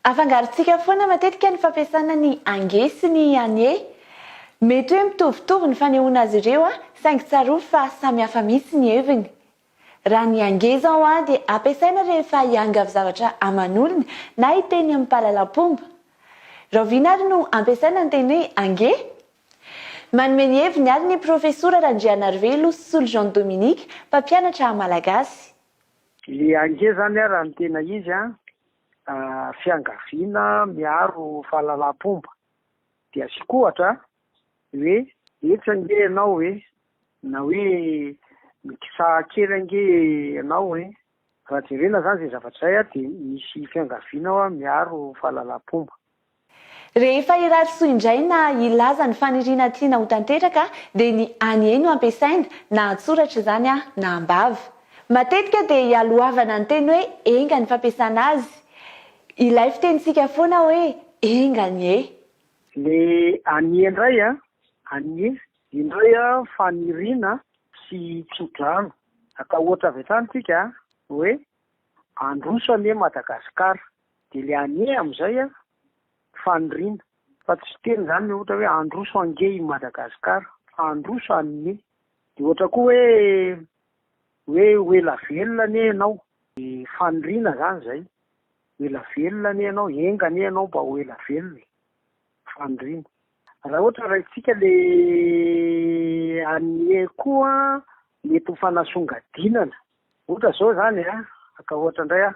Afangarontsika foana matetika ny fampiasana ny ange sy ny anie. Mety hoe mitovitovy ny fanehoana azy ireo saingy tsarovy fa samy hafa mihitsy ny heviny. Raha ny ange izao dia ampiasaina rehefa hiangavy zavatra aman'olona na hiteny amin'ny mpahalalam-pomba. Rahoviana ary no ampiasaina ny teny hoe ange? Manome ny heviny ary ny Profesora Randrianarivelo Solo Jean Dominique, mpampianatra Malagasy. Ilay ange izany raha ny tena izy fiangaviana miaro fahalalam-pomba. Dia asiako ohatra hoe etsy ange ianao e, na hoe mikisaha kely ange ianao e. Raha jerena izany izay zavatra izay dia misy fiangaviana miaro fahalalam-pomba. Rehefa hirary soa indray na hilaza ny faniriana tiana ho tanteraka dia ny Any e no ampiasaina, na an-tsoratra izany na am-bava. Matetika dia ialohavana ny teny hoe enga ny fampiasana azy. Ilay fitenintsika foana hoe enga anie. Ny anie indray, anie, indray faniriana sy tso-drano. Atao ohatra avy hatrany isika hoe, Handroso anie Madagasikara. Dia le anie amin'izay an, faniriana. Fa tsy fiteny izany le ohatra hoe handroso ange i Madagasikara, fa handroso anie. Dia ohatra koa hoe, hoe ho ela velona anie ianao. Dia faniriana izany izay. Ho ela velona anie ianao, enga anie ianao mba ho ela velona e. Faniriana. Raha ohatra raintsika le anie koa mety ho fanasongadinana. Ohatra izao izany an, atao ohatra indray an.